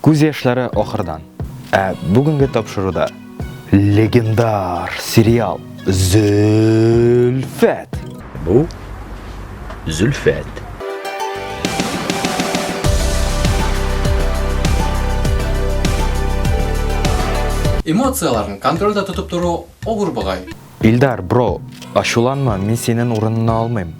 Күз яшьләре ахырдан. Ә бүгенге тапшыруда легендар сериал Зөлфәт. Бу Зөлфәт. Эмоцияләрен контрольдә тотып тору авыр бугай. Илдар, бро, ачуланма, мин синен урынына алмыйм.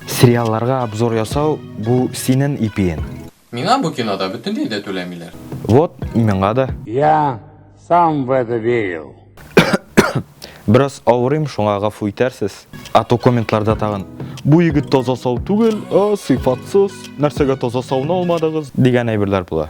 Сериалларга обзор ясау бу синен ипиен. Миңа бу кинода бөтенләй дә түләмиләр. Вот, миңа да. Я сам в это верил. Бераз авырыйм, шуңа гафу итәрсез. А то комментларда тагын бу егет таза сау түгел, а сыйфатсыз, нәрсәгә таза сауны алмадыгыз дигән әйберләр була.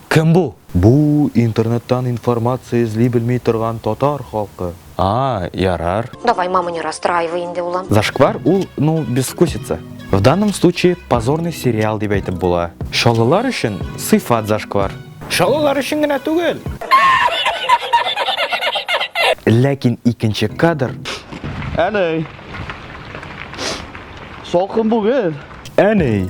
Кем бу? Бу, интернеттан информация эзли белми торган татар халкы. А, ярар. Давай, мама, не расстраивай инде, улым. Зашквар ул, ну, безвкусица. В данном случае позорный сериал дип әйтеп була. Чаллылар өчен сыйфат зашквар. Чаллылар өчен генә түгел. Ләкин икенче кадр. Әнәй. Салкын бүген. Әнәй.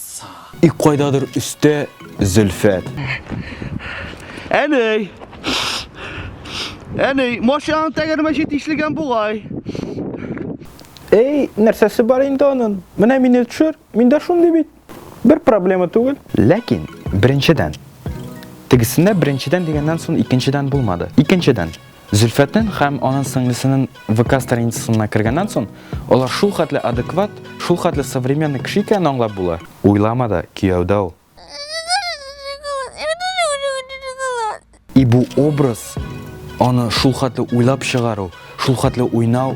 И кайдадыр өстә Зөлфәт. Әней! Әней, машинаның тәгәрмәче тишелгән бугай. Эй, нәрсәсе бар инде анын? Менә мине төшер, мин дә шундый бит. Бер проблема түгел. Ләкин, беренчедән, тегесендә беренчедән дигәннән соң икенчедән булмады. Икенчедән, Зөлфәтнен хәм анын сеңлесенен ВК страницасына кергәннән сон, алар шул хәтле адекват, шул хәтле современный кеше икәнен аңлап була. Уйлама да, кияү дә ул. И бу образ, аны шул хәтле уйлап чыгару, шул хәтле уйнау.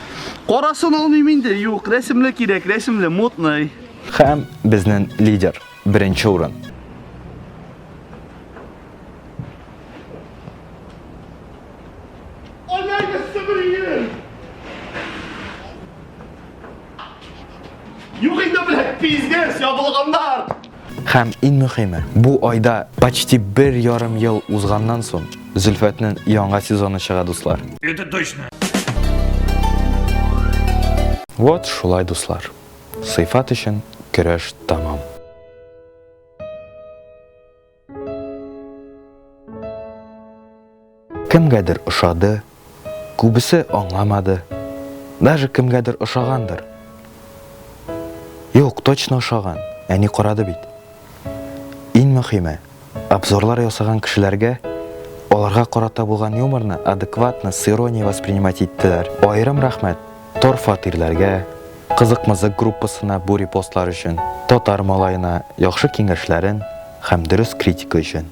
Карасын алмыйм инде, юк, рәсемле кирәк, рәсемле, мутный. Хәм безнен лидер, беренче урын. Юк инде, блядь, пиздец, ябылганнар! Һәм иң мөхиме, бу айда почти бер ярым ел узганнан сон Зөлфәтнен яңа сезоны чыга дуслар. Это точно. Вот шулай дуслар. Сыйфат өчен көрәш тәмам. Кемгәдер ошады, күбесе аңламады, даже кемгәдер ошагандыр. Юк, точно ошаган, әни карады бит. Иң мөхиме, обзорлар ясаган кешеләргә аларга карата булган юморны адекватно, с иронией воспринимать иттеләр. Аерым рәхмәт Тор фатирләргә, Кызык-мызык группасына бу репостлар өчен, Татар малаена яхшы киңәшләрен һәм дөрес критика өчен.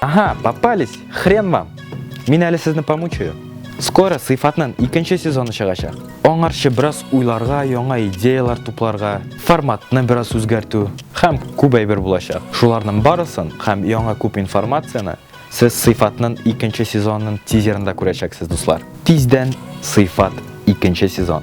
Ага, попались, хрен вам. Мин әле сезне помучаю. Скоро сыйфатнан икенче сезоны чыгачак. Аңарчы бераз уйларга, яңа идеялар тупларга, форматны бераз үзгәртү һәм күп әйбер булачак. Шуларның барысын һәм яңа күп информацияне Сез Сыйфатның икенче сезонының тизерында күрәчәксез, дуслар. Тиздән Сыйфат икенче сезон.